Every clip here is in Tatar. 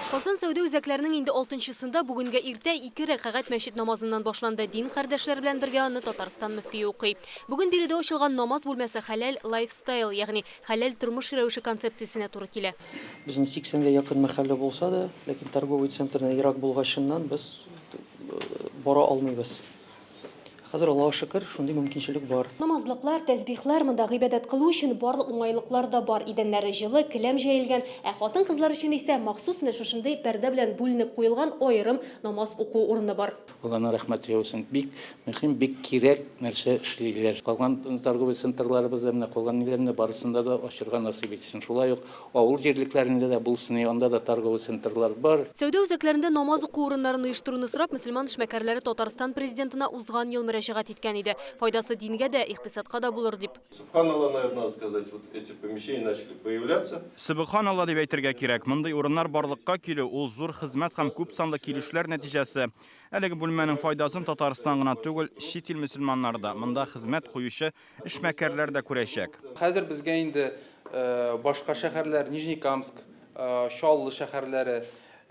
Казан сәүдә үзәкләренең инде алтынчысында бүгенгә иртә ике рәкәгать мәчет намазыннан башланды. Дин кардәшләр белән бергә аны Татарстан мөфтие укый. Бүген биредә ачылган намаз бүлмәсе хәләл лайфстайл, ягъни хәләл тормыш рәвеше концепциясенә туры килә. Безнең 80 гә якын мәхәллә булса да, ләкин торговый центрдан ерак булгачыннан без бара алмыйбыз. Хәзер Аллаһу шөкер, шундый мөмкинчелек бар. Намазлыклар, тәсбихләр, монда гыйбадәт кылу өчен барлык уңайлыклар да бар, идәннәре җылы, келәм җәелгән, ә хатын-кызлар өчен исә махсус менә шушындый пәрдә белән бүленеп куелган аерым намаз уку урыны бар. Алланың рәхмәте яусын, бик мөһим, бик кирәк нәрсә эшлиләр. Калган торговый центрларыбыз да, менә калган ниләрне дә, барысын да да ачырга насыйп итсен. Шулай ук Авыл җирлекләрендә дә булсын, и анда да торговый центрлар бар. Сәүдә үзәкләрендә намаз уку урыннарын оештыруны сорап мөселман эшмәкәрләре Татарстан Президентына узган ел мөрәҗәгать иткән иде. Файдасы дингә дә, икътисадка да булыр дип. Субханалла, наверное, надо сказать, вот эти помещения начали появляться. Сөбеханалла дип әйтергә кирәк. Мондый урыннар барлыкка килү, ул зур хезмәт һәм күп санлы килүчеләр нәтиҗәсе. Әлеге бүлмәнең файдасын Татарстан гына түгел, чит ил мөселманнары да, монда хезмәт куючы Эшмәкәрләр дә күрәчәк. Хәзер безгә инде башка шәһәрләр, Нижнекамск, Чаллы шәһәрләре,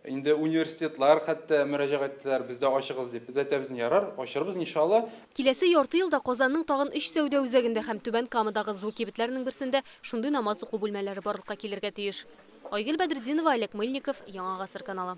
инде университетлар хәтта мөрәҗәгать иттеләр, бездә ачыгыз дип. Без әйтәбез, ярар, ачырбыз, иншалла. Киләсе ярты елда Казанның тагын өч сәүдә үзәгендә һәм Түбән Камадагы зур кибетләрнең берсендә шундый намаз уку бүлмәләре барлыкка килергә тиеш. Айгөл Бәдретдинова, Олег Мыльников, Яңа гасыр каналы.